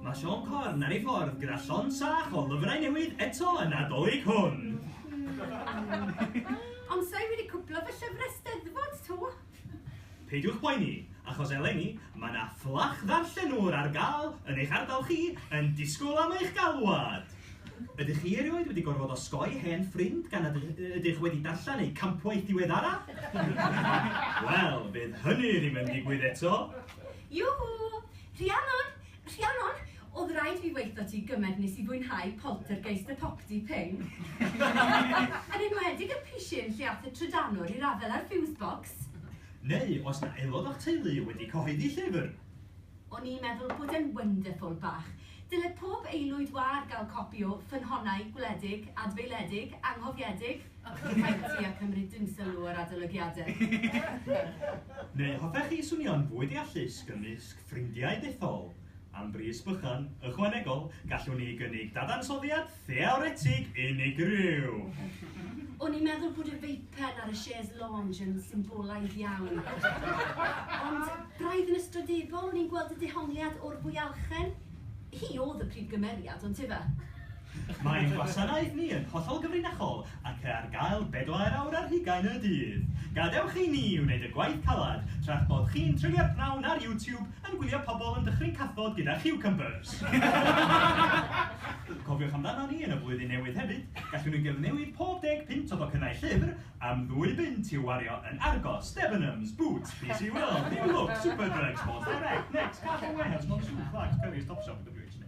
Mae Sean Corn ar ei ffordd gyda llon sach o lyfrau newydd eto yn adolyg hwn. Ond sa'i wedi cwplo fy llyfrau steddfod to. Peidiwch poeni, achos eleni, mae 'na fflach ddarllenwr ar gael yn eich ardal chi yn disgwyl am eich galwad! Ydych chi erioed wedi gorfod osgoi hen ffrind gan nad ydych wedi darllen eu campwaith diweddara? Wel, fydd hynny ddim yn digwydd eto! Yoo-hoo! Rhiannwr, Rhiannon, Oedd raid fi weitho ti gymaint nes i fwynhau Poltergeist y Popty Ping. Yn enwedig y pishyn lle ath y trydanwr i'r afel â'r fuse box. Neu os na aelod o'ch teulu wedi cyhoeddi llyfr. O'n i'n meddwl bod e'n wonderful bach. Dyle pob aelwyd wâr gael copi o Ffynhonnau Gwledig, Adfeiliedig, Anghofiedig. Rhaid ti a cymryd dim sylw o'r adolygiadau. Neu hoffech chi swnio'n fwy deallus gymysg Ffrindiau dethol, Am bris bychan, ychwanegol, gallwn ni gynnig dadansoddiad theoretig unigryw. O'n i'n meddwl bod y veipen ar y chaise lounge yn symbolaidd iawn. Ond braidd yn ystrydebol, o'n i'n gweld y dehongliad o'r fwyalchen. Hi oedd y prif gymeriad, on'd ife? Mae ein gwasanaeth ni yn hollol gyfrinachol ac ar gael bedair awr ar hugain y dydd. Gadewch i ni wneud y gwaith caled tra'ch bod chi'n treulio'r pnawn ar YouTube yn gwylio pobl yn dychryn cathod gyda chiwcymbers! Cofiwch amdanon ni yn y flwyddyn newydd hefyd, gallwn ni gyfnewid pob deg punt o docynnau llyfr am ddwy bunt i'w wario yn Argos, Debenhams, Boots, PC World, New Look, Superdrug, Sports Direct, Next, Castle Warehouse, Monsoon, Clarks, Currys, Topshop, WH neu...